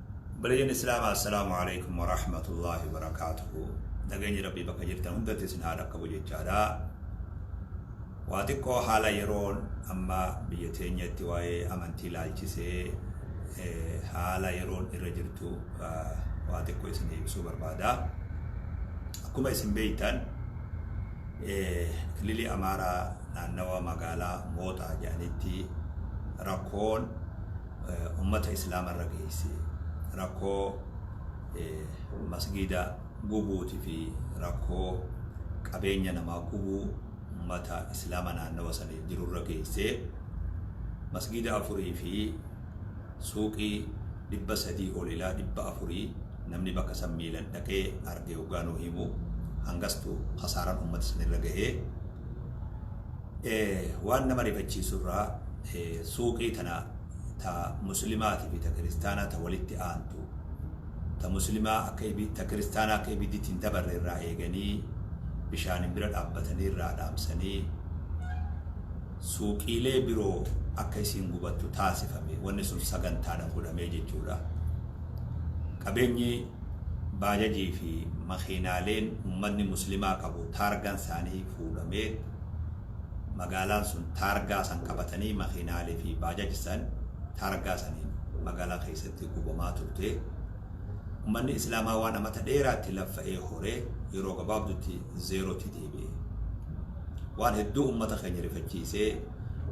Obboleeyyan Islaamaa Assalaamu Aleeykum Warahmatullaahi Wabarakaatuhu Nageenyi Rabbii bakka jirtan hundatti isin haa dhaqqabu jechaadha. Waa xiqqoo haala yeroon amma biyya teenyatti waa'ee amantii ilaalchisee eh, haala yeroon irra jirtu ah, waa xiqqoo isin ibsuu barbaada. Akkuma isin beektan eh, kililii Amaaraa naannawa magaalaa Mooxaa jedhanitti rakkoon ummata islaama irra geeyse rakkoo masgiida gubuuti fi rakkoo qabeenya namaa gubuu ummata islaama naannawa saniif jiru irra geeyse masgiida afurii fi suuqii dhibba sadii ol ilaa dhibba afurii namni bakka san miilan dhaqee arge hoggaa nu himu hangastu kasaaran ummata san irra gahee Waan nama rifachiisu irraa suuqii tana ta muslimaatii fi ta kiristaanaa ta walitti aantu ta muslimaa akka ibi ta kiristaanaa akka ibidditti hin dabarre irraa eeganii bishaaniin bira dhaabbatanii irraa dhaamsanii suuqiilee biroo akka isiin gubattu taasifame wanni sun sagantaadhaan godhamee jechuudha. Qabeenyi baajajii fi makiinaaleen ummatni muslimaa qabu taargaan isaanii fuudhamee magaalaan sun taargaa san qabatanii makiinaalee fi baajaj san taargaa saniin magaalaa keessatti gubamaa turte. Ummanni Islaamaa waan amata dheeraatti laffa'ee hore yeroo gabaabdutti zeerootti deebi'e. Waan hedduu ummata keenya rifachiisee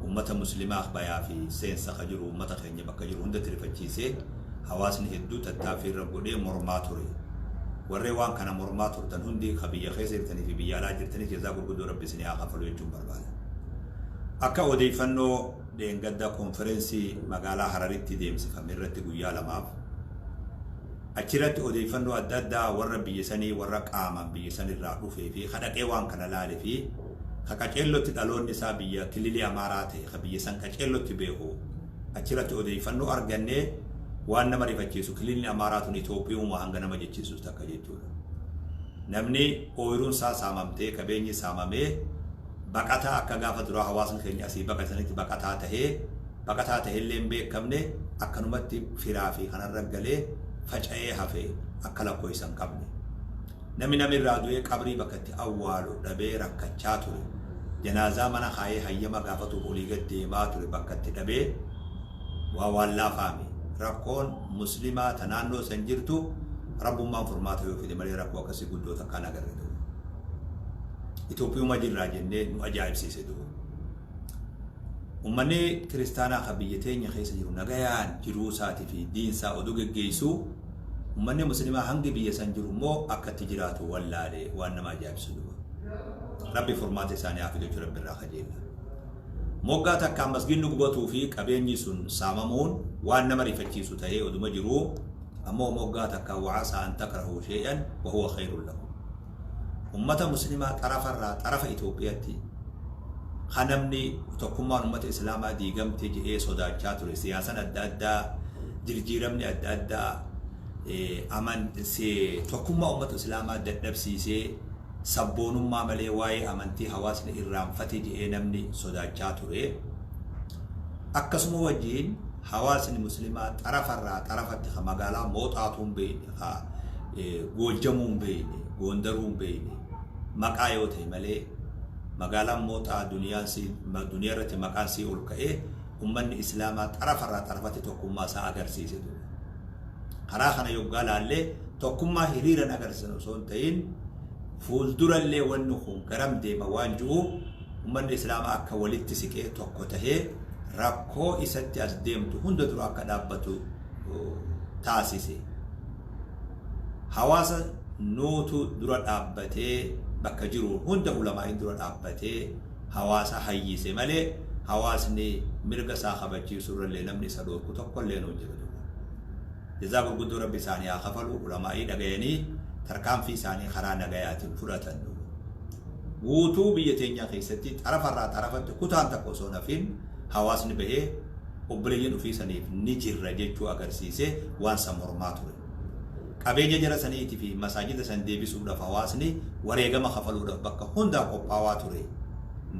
ummata muslimaa bayaa fi seensa ka jiru ummata keenya bakka jiru hundatti rifachiisee hawaasni hedduu tattaaffii irra godhee mormaa ture. Warreen waan kana mormaa turtan hundi ka biyya keessa jirtanii fi biyya alaa jirtanis jazaa gurguddoo Rabbi isinii haa kafalu jechuun barbaada. Akka odeeffannoo dheengadda konferensii magaalaa Hararitti deemsifame irratti guyyaa lamaaf achirratti odeeffannoo adda addaa warra biyya sanii warra qaamaan biyya sanirraa dhufee fi ka dhaqee waan kana laale fi ka qaceellotti dhaloonni isaa biyya kililii Amaaraa ta'e ka biyya san qaceellotti beeku Achirratti odeeffannoo argannee waan nama rifachiisu kililli Amaaraa tun Itoophiyuuma hanga nama jechiisus takka jechuudha. Namni ooyiruun isaa saamamtee qabeenyi saamamee baqataa akka gaafa duraa hawaasni keenya asii baqate sanitti baqataa tahee baqataa tahellee hin beekamne akkanumatti firaa fi kanarra galee faca'ee hafe akka lakkoofsa hin qabne. Namni nama irraa du'ee qabrii bakka itti awwaalu dhabee rakkachaa ture, janaazaa mana kaayee hayyama gaafatuuf olii gad deemaa ture bakka itti dhabee waa waan laafaami. Rakkoon Muslimaa ta naannoo san jirtu Rabbummaan furmaata yoo fide malee rakkoo akkasii guddoo takka hin agarre du'u. Itoophiyuma jirraa jennee nu ajaa'ibsiise du'u. Ummanni kiristaanaa kan biyya teenya keessa jiru nagayaan jiruu isaatii fi diin isaa oduu geggeessuu Ummanni muslimaa hangi biyya san jiru immoo akka itti jiraatu wallaale waan nama ajaa'ibsu duba. Rabbi furmaata isaanii haa fidu jechuun Rabbi irraa kajeella. Moggaa takkaan masgiidni gubatuu fi qabeenyi sun saamamuun waan nama rifachiisu ta'ee oduma jiruu ammoo moggaa takkaan wa'asaa an takrahuu shay'an wa huwa khayrun lakum. ummata muslimaa xarafa irraa xarafa Itoophiyatti ka namni tokkummaan ummata islaamaa diigamte je'ee sodaachaa ture siyaasan adda addaa jirjiiramni adda addaa aman tokkummaa ummata islaamaa dadhabsiisee sabboonummaa malee waa'ee amantii hawaasni irraanfate je'ee namni sodaachaa ture akkasuma wajjiin Hawaasni Muslimaa xarafa irraa xarafatti ka magaalaa Mooxaatuu hin beeyne, ka Goojjamuu hin beeyne, Goondaruu hin beeyne, maqaa yoo tahe malee magaalaan Mooxaa duniyaan si, duniyaa irratti maqaan isii ol ka'ee ummanni Islaamaa xarafa irraa xarafatti tokkummaa isaa agarsiise ture. Karaa kana yoggaa laallee tokkummaa hiriiran agarsiisan osoo hin tahin fuuldura illee wanni kun garam deema waan ji'uuf Ummanni Islaamaa akka walitti siqee tokko tahee rakkoo isatti as deemtu hunda dura akka dhaabbatu taasise. Hawaasa nuutu dura dhaabbatee bakka jiru hunda ulamaa'iin dura dhaabbatee hawaasa hayyise malee hawaasni mirga isaa kabachiisuu irra illee namni isa dhoorku tokko illeen hin jiru. Jazaa gurguddoo Rabbi isaanii haa kafaluu Ulamaa'ii dhagayanii tarkaanfii isaanii karaa nagayaatiin fudhatan nu Guutuu biyya teenyaa keessatti xarafa irraa xarafatti kutaan takka osoo hin hafiin hawaasni bahee obboleeyyan ufii saniif ni jirra jechuu agarsiisee waan san mormaa ture. Qabeenya jara saniitii fi masaajida san deebisuudhaaf hawaasni wareegama kafaluudhaaf bakka hundaa qophaawaa ture.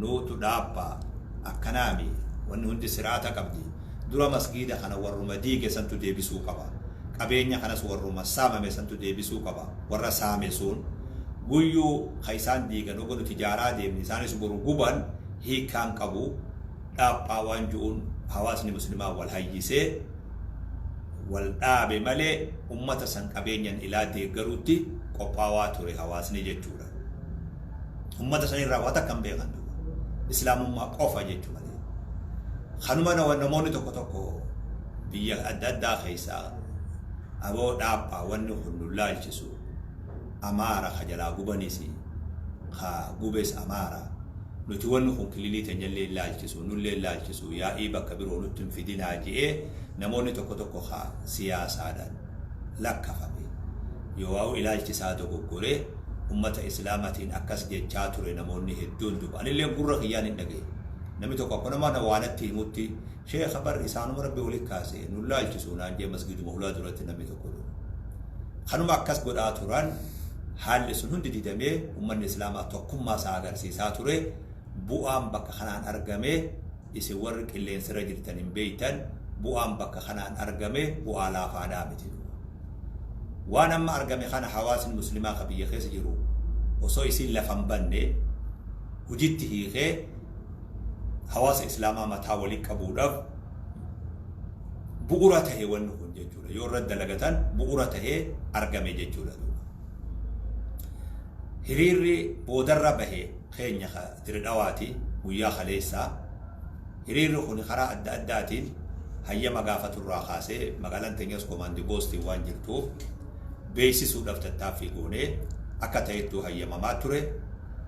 Nuutu dhaabba. Akkanaami. Wanni hundi sir'aata qabdi. Dura masgiida kana warruma diige santu deebisuu qaba. Qabeenya kanas warruma saamame santu deebisuu qaba. Warra saame sun guyyuu ka isaan diigan hoga nuti ijaaraa deemne isaanis boru guban hiikkaa hin qabu. Dhaaphaa waan ju'uun hawaasni muslimaa wal hayyisee wal dhaabe malee ummata san qabeenyan ilaa deeggaruutti qophaawaa ture hawaasni jechuudha. ummata san irraa waa takka hin beekan duuba islaamummaa qofa jechuu malee kanuma nama- namoonni tokko tokko biyya adda addaa keessaa aboo dhaabaa wanni kun nu laalchisu amaara ka jalaa gubanis ka gubes amaara nuti wanni kun kililii teenyallee laalchisu nullee laalchisu yaa'ii bakka biroo nutti hin fidinaa je'ee namoonni tokko tokko ka siyaasaadhaan lakkafame. Yowaa'u ilaalchi isaa dogoggoree ummata Islaamatiin akkas jechaa ture namoonni hedduun duba. Anilleen gurra kiyyaan hin dhagaye. Namni tokko akkuma nama waa natti himutti Sheekha bar isaanuma Rabbi wali kaase nun laalchisu naan jee masgiduma hulaa duratti namni tokko duba. Kanuma akkas godhaa turan haalli sun hundi didamee ummanni Islaamaa tokkummaa isaa agarsiisaa ture bu'aan bakka kanaan argame Isin warri qilleensarra jirtan hin beektan, bu'aan bakka kanaan argame bu'aa laafaadhaa miti duuba. Waan amma argame kana hawaasni muslimaa ka biyya keessa jiru osoo isiin lafa hin banne hujitti hiikee hawaasa islaamaa mataa wali qabuudhaaf bu'ura tahe wanni kun jechuudha. Yoo irratti dalagatan bu'ura tahee argame jechuudha duuba. Hiriirri boodarra bahe keenya Diredhawaati guyyaa kaleessaa hiriirri kuni karaa adda addaatiin hayyama gaafatu irraa kaasee magaalaan teenyas komaandi poostiin waan jirtuuf beeksisuudhaaf tattaaffii goonee akka ta'ettuu hayyamamaa ture.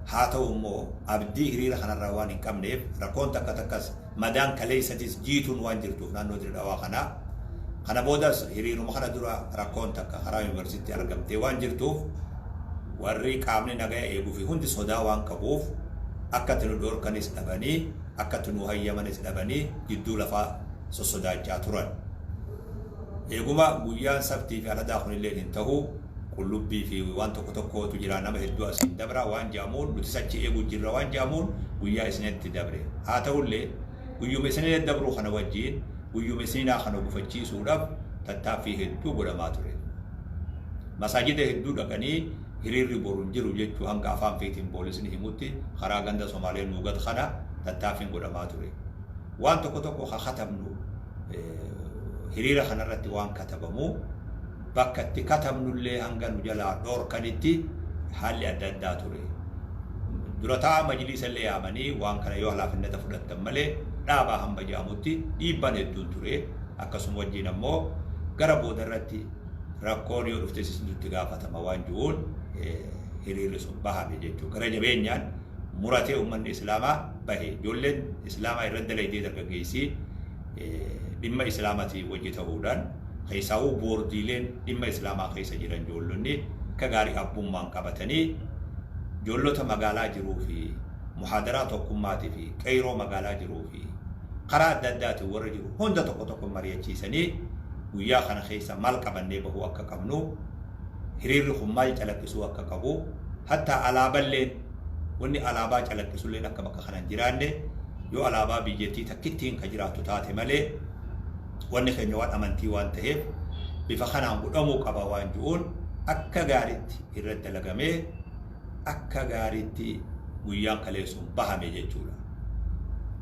Haa ta'u immoo abdii hiriira kanarraa waan hin qabneef rakkoon takka takkas Madaan kaleessatis Jiituun waan jirtuuf naannoo Dire Dhawaa kana. Kana boodas hiriiruma kana dura rakkoon takka karaa Yuunivarsiitti argamtee waan jirtuuf warri qaamni nagaya eegufi hundi sodaa waan qabuuf akka itti nu dhoorkanis dhabanii akka itti nuu hayyamanis dhabanii jidduu lafaa sossodaachaa turan. Eeguma guyyaan Sabtiifi Aradaa kunilleen hin tahu. qullubbii fi waan tokko tokkootu jira nama hedduu asiin dabra waan jedhamuun nutis achi eegu jirra waan jedhamuun guyyaa isniinatti dabre. Haa ta'ullee guyyuma isniina dabruu kana wajjiin guyyuma isniinaa kana gufachiisuudhaf tattaaffii hedduu godhamaa ture. Masaajida hedduu dhaqanii hiriirri boru hin jiru jechuu hanga afaan feetiin poolisni himutti karaa ganda Somaalee Nuugat kana tattaaffiin godhamaa ture. Waan tokko tokko ka katabnu hiriira kanarratti waan katabamu Bakka itti katabnullee hanga nu jalaa dhoorkanitti haalli adda addaa ture. Dura taa'aa majliisallee yaamanii waan kana yoo halaafinnata fudhattan malee dhaabaa hamba jedhamutti dhiibbaan hedduun ture. Akkasuma wajjiin ammoo gara boodarratti rakkoon yoo dhuftes isintu itti gaafatama waan ju'uun hiriirri sun bahame jechuudha. Gara jabeenyaan muratee ummanni Islaamaa bahe. Ijoolleen Islaamaa irratti dalaydee dargaggeessii. dhimma Islaamatii wajji ta'uudhaan keessaahuu boordiileen dhimma Islaamaa keessa jiran joollonni akka gaarii abbummaan qabatanii joollota magaalaa jiruu fi muhaadaraa tokkummaatii fi qeeyroo magaalaa jiruu fi karaa adda addaatiin warra jiru hunda tokko tokko mari'achiisanii guyyaa kana keessa maal qabannee bahuu akka qabnu hiriirri kun maal calaqqisuu akka qabu hattaa alaaballeen Wanni alaabaa calaqqisulleen akka bakka kana hin jiraanne, yoo alaabaa biyyattii takkittiin ka jiraattu taate malee, wanni keenya waan amantii waan taheef bifa kanaan godhamuu qaba waan ju'uun akka gaaritti irratti dalagamee akka gaaritti guyyaan kaleessuun bahame jechuudha.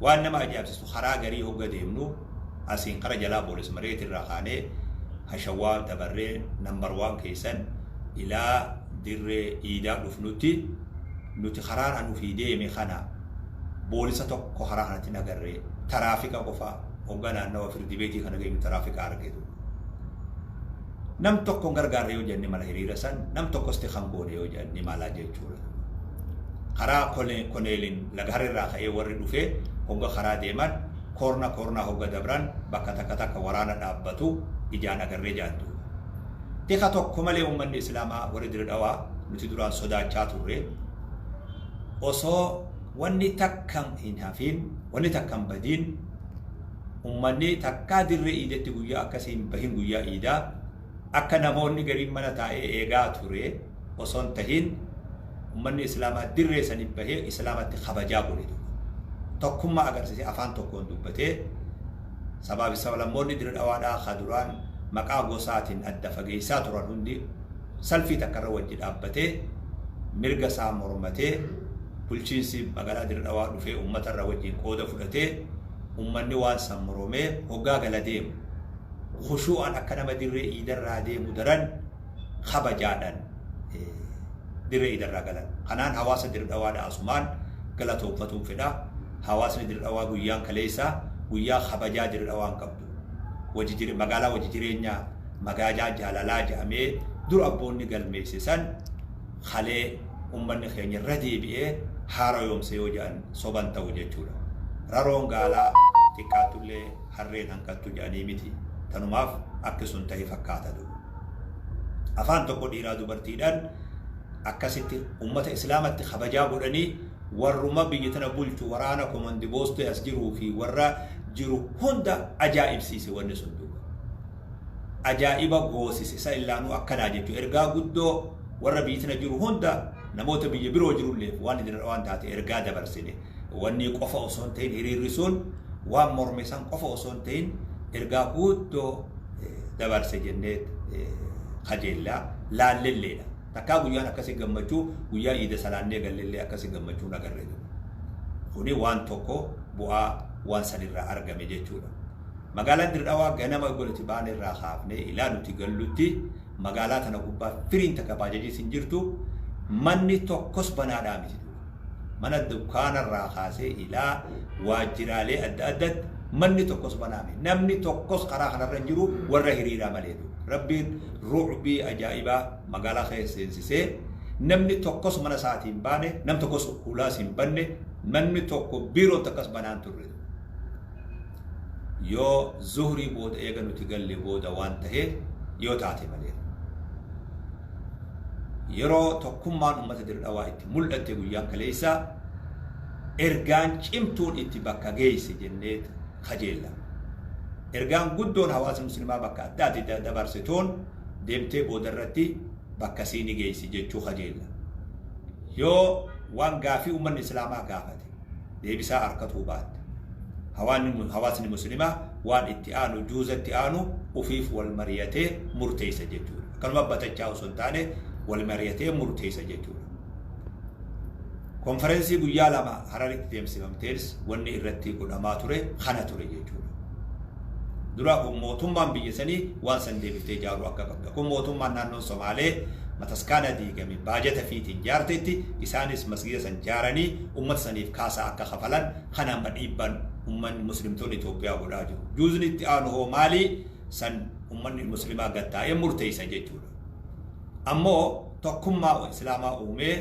Waan nama ajaa'ibsiistu karaa garii hogga deemnu asiin kara jalaa boolis mareetirraa kaanee hashawaa dabarree number one keessan ilaa Dirree iidaa dhufnutti nuti karaadha nufii deeme kana boolisa tokko karaa kanatti hin agarre taraafika qofa hoggaa naannawa firdi beetii kana geenyu taraafika arge ture. Nam tokko hin gargaarre yoo jenne mala hiriira san nam tokkos ti kan goone yoo jedhan ni mala jechuudha. Karaa kone- koneelin lagahar irraa ka'ee warri dhufee hogga karaa deeman koorna koornaa hogga dabran bakka takka takka waraana dhaabbatu ijaan agarree jedhan duuba. Tika tokko malee ummanni islaamaa warri Dire Dhawaa nuti duraan sodaachaa turre osoo wanni takka hin hafiin wanni takka hin badiin ummanni takkaa dirree iidetti guyyaa akkasii hin bahin guyyaa iidaa akka namoonni gariin mana taa'ee eegaa ture osoo hin tahin ummanni islaamaa dirree saniif bahee islaamatti kabajaa godhe tokko tokkummaa agarsiisee afaan tokkoon dubbatee sabaa fi sablammoonni dirree dhawaadhaa ka duraan maqaa gosaatiin adda fageessaa turan hundi salfii takka irra wajji dhaabbatee mirga isaa mormatee bulchiinsi magaalaa dirree dhawaa dhufee ummata irra wajjiin qooda fudhatee ummanni waan san moromee hoggaa gala deemu khushuu'aan akka nama dirree iidarraa deemu daran kabajaadhan dirree idarraa galan. Kanaan hawaasa dirdhawaadha asumaan galatoomfatuun fedha. Hawaasni dirdhawaa guyyaan kaleessaa guyyaa kabajaa dirdhawaan qabdu. Wajijire magaalaa wajijireenya magaalaa jaalalaa jedhamee dur abboonni galmeesse san kalee ummanni keenya irra deebi'ee haarayoomse yoo jedhan soban ta'u jechuudha. Raroon gaalaa xiqqaattullee harreen hanqattu jedhanii miti. Tanumaaf akki sun ta'e fakkaata dur. afaan tokko dhiiraa dubartiidhaan akkasitti ummata islaamatti kabajaa godhanii warruma biyya tana bulchu waraana komandi boostee as jiruu fi warra jiru hunda ajaa'ibsiise wanni sun duuba. Ajaa'iba goosise isa illaanuu akkanaa jechuu ergaa guddoo warra biyya tana jiru hunda namoota biyya biroo jirulleef waan idin waan taate ergaa dabarsine. wannii qofa osoo hin ta'in hiriirri sun waan morme san qofa osoo hin ta'in ergaa guuddoo dabarse jennee kajeellaa laallelleedha. Takkaa guyyaan akkasi gammachuu guyyaa iida salaannee gallellee akkasi gammachuun agarree ture. Kuni waan tokko bu'aa waan sanirraa argame jechuudha. Magaalaan Dirree ganama eegoliti baane irraa kaafnee ilaa nuti gallutti magaalaa tana gubbaa firiin takka baajajii sin jirtu manni tokkos banaadhaa miti. Mana dukkaana irraa kaasee ilaa waajjiraalee adda addatti manni tokkos banaa miti. Namni tokkos karaa kana irra hin jiru warra hiriiraa malee ture. Rabbiin ru'bii ajaa'ibaa magaalaa keessa seensisee namni tokkos mana isaatii hin baane, nam tokkos huulaas hin banne, manni tokko biiroon takkas banaa hin turre. yoo zuhrii booda eega nuti galle booda waan tahee yoo taate malee yeroo tokkummaan ummata dirdhawaa itti mul'atte guyyaan kaleessaa ergaan cimtuun itti bakka geeyse jennee kajeella. Ergaan guddoon hawaasa muslimaa bakka adda addaa dabarse toon deemtee booda irratti bakka siini geeysi jechuu kajeella. Yoo waan gaafii ummanni islaamaa gaafate deebisaa arkatuu baatta. Hawaanni, hawaasni muslimaa waan itti aanu, juuza itti aanu ufiif wal mariyatee murteeysa jechuudha. Akkanuma batachaa osoo hin taane wal mariyatee murteeysa jechuudha. Konferensii guyyaa lama Hararitti deemsifamteenis wanni irratti godhamaa ture kana ture jechuudha. Dura kun mootummaan biyya sanii waan san deebiftee ijaaruu akka qabda. Kun mootummaan naannoo Somaalee mataskaana diigame baajata fiitiin jaarteetti isaanis masgiida san jaaranii ummata saniif kaasaa akka kafalan kana amma dhiibbaan ummanni muslimtoonni Itoophiyaa godhaa jiru. Juuzni itti aanu hoo maali? San ummanni muslimaa gad taa'ee murteessa jechuudha. Ammoo tokkummaa islaamaa uumee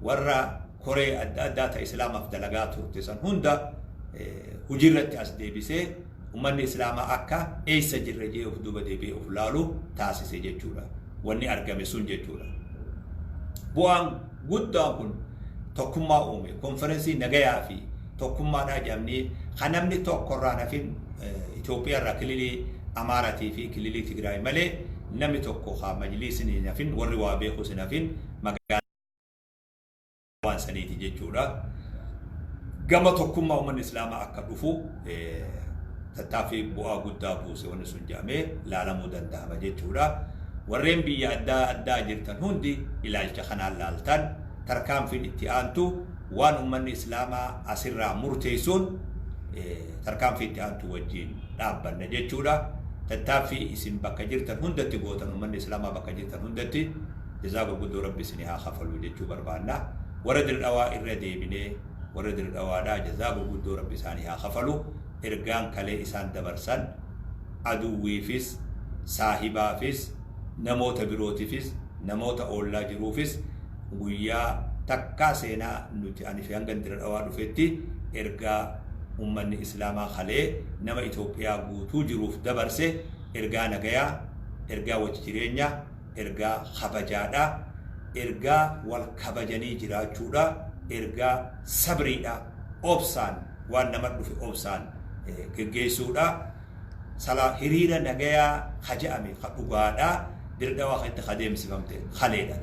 warra koree adda addaa ta Islaamaaf dalagaa turte san hunda hujirratti as deebisee ummanni Islaamaa akka eeysa jirra jee of duuba deebi'ee of laalu taasise jechuudha. Wanni argame sun jechuudha. Bu'aan guddaan kun tokkummaa uume. Konferensii nagayaa fi tokkummaadhaa jedhamnee kan namni tokko irraa nafin Itoophiyaa irraa kililii Amaaratii fi kililii Tigraay malee namni tokko haa majliisni nafin warri waa beekus nafin magaalaa waan saniiti jechuudha. Gama tokkummaa uummanni Islaamaa akka dhufu eh, tattaaffii bu'aa guddaa buuse wanni sun jedhamee laalamuu danda'ama jechuudha. Warreen biyya addaa addaa jirtan hundi ilaalcha kanaan laaltan tarkaanfiin itti aantu waan uummanni Islaamaa asirraa murteessuun eh, tarkaanfii itti aantu wajjin dhaabbanna jechuudha. Tattaaffii isin bakka jirtan hundatti gootan uummanni Islaamaa bakka jirtan hundatti Jazaa gurguddoo rabbi isinii haa kafaluu jechuu barbaanna warra dirdhawaa irra deebinee warra dirdhawaadhaa jazaa gurguddoo rabbi isaanii haa kafaluu ergaan kalee isaan dabarsan aduwwiifis saahibaafis namoota birootifis namoota oollaa jiruufis guyyaa takkaa seenaa nuti anifi hangan diradhawaa dhufetti ergaa ummanni islaamaa kalee nama itoophiyaa guutuu jiruuf dabarse ergaa nagayaa ergaa wajjijireenyaa Ergaa kabajaa dha. Ergaa wal kabajanii jiraachuu dha. Ergaa sabrii dha. Obsaan waan nama dhufe obsaan geggeessuu dha. Salaa hiriira nagayaa ka ja'ame ka dhugaa dha. Dirdhawaa keessatti ka deemsifamte kalee dha.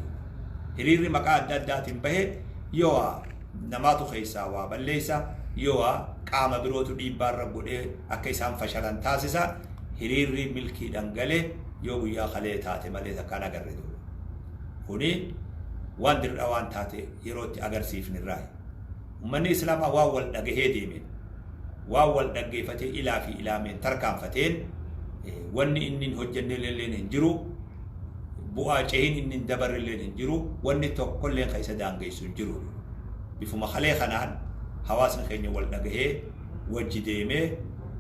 Hiriirri maqaa adda addaatiin bahe yoo waa namaatu keessaa waa balleessa, yoo waa qaama birootu dhiibbaa irra godhee akka isaan fashalan taasisa. hiriirrii milkiidhan gale yoo guyyaa kalee taate malee takka hin agarre duuba. Kuni waan dirdhawaan taate yeroo itti agarsiifne irraayi. Ummanni Islaamaa waan wal dhagahee deemeen, waan wal dhaggeefatee ilaa fi ilaameen tarkaanfateen wanni inni hin hojjennelleen hin jiru, bu'aa cehiin inni hin dabarrelleen hin jiru, wanni tokkolleen ka isa daangeessu hin jiru. Bifuma kalee kanaan hawaasni keenya wal dhagahee, wajji deemee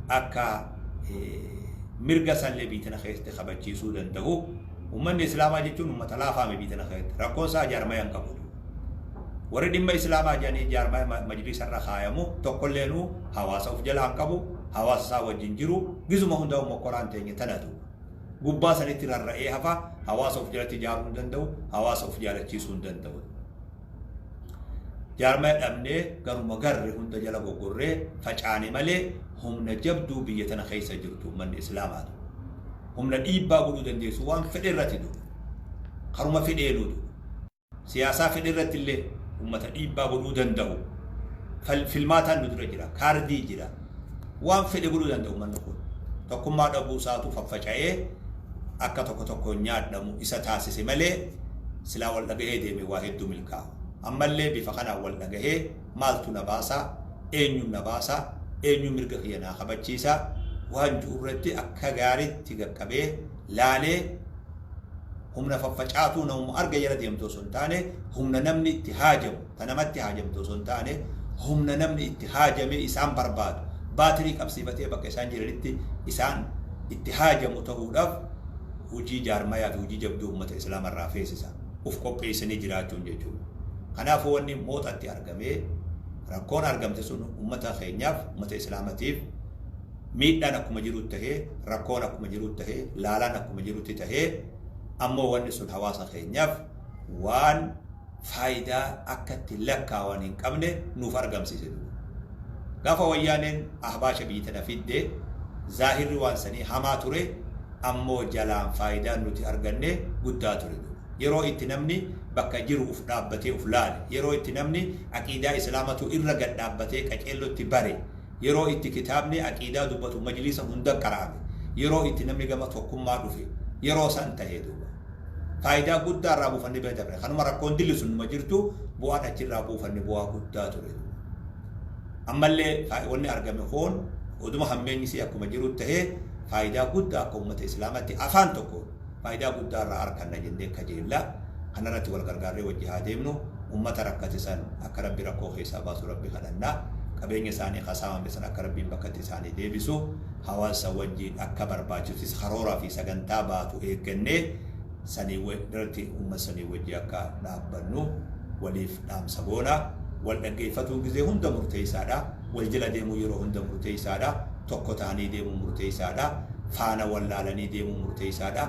akka mirga sallee biyya tana keessatti kabachiisuu danda'u ummanni islaamaa jechuun ummata laafaa mi biyya tana keessatti rakkoon isaa jaarmaya hin qabu warri dhimma islaamaa jedhanii jaarmaya majliisa irra kaayamu tokkolleenuu hawaasa of jalaa hin qabu hawaasa isaa wajjin jiru gizuma hundaa'u mokkoraan teenye tanatu gubbaa sanitti rarra'ee hafa hawaasa of jalatti ijaaruu hin danda'u hawaasa of jaalachiisuu hin danda'u Jaarmaya dhabnee garuma garre hunda jala goggorree facaane malee humna jabduu biyya tana keessa jirtu ummanni Islaamaa tu. Humna dhiibbaa godhuu dandeessu waan fedhe irratti tu. Karuma fedheenuu tu. Siyaasaa fedhe irratti illee ummata dhiibbaa godhuu danda'u. Fal- Filmaataan nu dura jira. Kaardii jira. Waan fedhe godhuu danda ummanni kun. Tokkummaa dhabuu isaatu faffaca'ee akka tokko tokkoon nyaadhamu isa taasise malee silaa wal dhagahee deeme waa hedduu milkaa'a. Ammallee bifa kanaan wal dhagahee maaltu na baasa, eenyuun na baasa, eenyuun mirga kiyya naa kabachiisa waan ju'u irratti akka gaariitti gaqqabee laalee humna faffacaatuu namuma arge jala deemtu osoo hin taane humna namni itti haajamu, Ka namatti haajamtu osoo hin taane humna namni itti haajamee isaan barbaadu, baatirii qabsiifatee bakka isaan jiranitti isaan itti haajamu tahuudhaaf hujii jaarmayaa fi hujii jabduu ummata Islaama irraa feesisa. Uf qopheeysanii jiraachuun jechuudha. Kanaafuu wanni Mooxatti argamee rakkoon argamte sun ummata keenyaaf, ummata Islaamatiif miidhaan akkuma jirutti tahee, rakkoon akkuma jirutti tahee, laalaan akkuma jirutti tahee ammoo wanni sun hawaasa keenyaaf waan. faayidaa akka itti lakkaawan hin qabne nuuf argamsiise dura. Gaafa Wayyaaneen Ahbaasha biyyi tana fidde zaahirri waan sanii hamaa ture ammoo jalaan faayidaan nuti arganne guddaa ture dura. Yeroo itti namni bakka jiru uf dhaabbatee uf laale, yeroo itti namni aqiidaa Islaamatu irra gad dhaabbatee qaceellotti bare, Yeroo itti kitaabni aqiidaa dubbatu majliisa hunda qara'ame, yeroo itti namni gama tokkummaa dhufe, yeroo san tahe duuba. Faayidaa guddaa irraa buufannee bira dabre. Kanuma rakkoon dilli sun numa jirtu bu'aan achi irraa buufanne bu'aa guddaa ture duuba. Ammallee faa- wanni argame kun oduma hammeenyi isii akkuma jirutti tahee faayidaa guddaa akka ummata islaamatti afaan tokkoon Faayidaa guddaa irraa arkanna jennee kajeella. Kana irratti wal gargaarree wajji haa deemnu. Ummata rakkate san akka Rabbi rakkoo keessaa baasu Rabbi kadhanna. Qabeenya isaanii ka saamame san akka Rabbiin bakkatti isaanii deebisu hawaassa wajjiin akka barbaachisutis karooraa fi sagantaa baatu eeggannee sanii irratti ummat sanii wajji akka dhaabbannu waliif dhaamsa goona. Wal dhaggeeffatuun gizee hunda murteessaadha. Wal jala deemuun yeroo hunda murteessaa dha. Tokko ta'anii deemuun murteessaa dha. Faana wal laalanii deemuun murteessaa dha.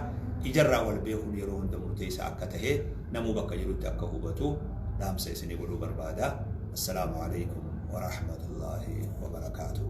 Ijarraa wal beekuun yeroo hunda murteessaa akka tahe namuu bakka jirutti akka hubatu dhaamsa isinii godhuu barbaada. Assalaamu Aleykum Warahmatullaahi Wabarakaatuh.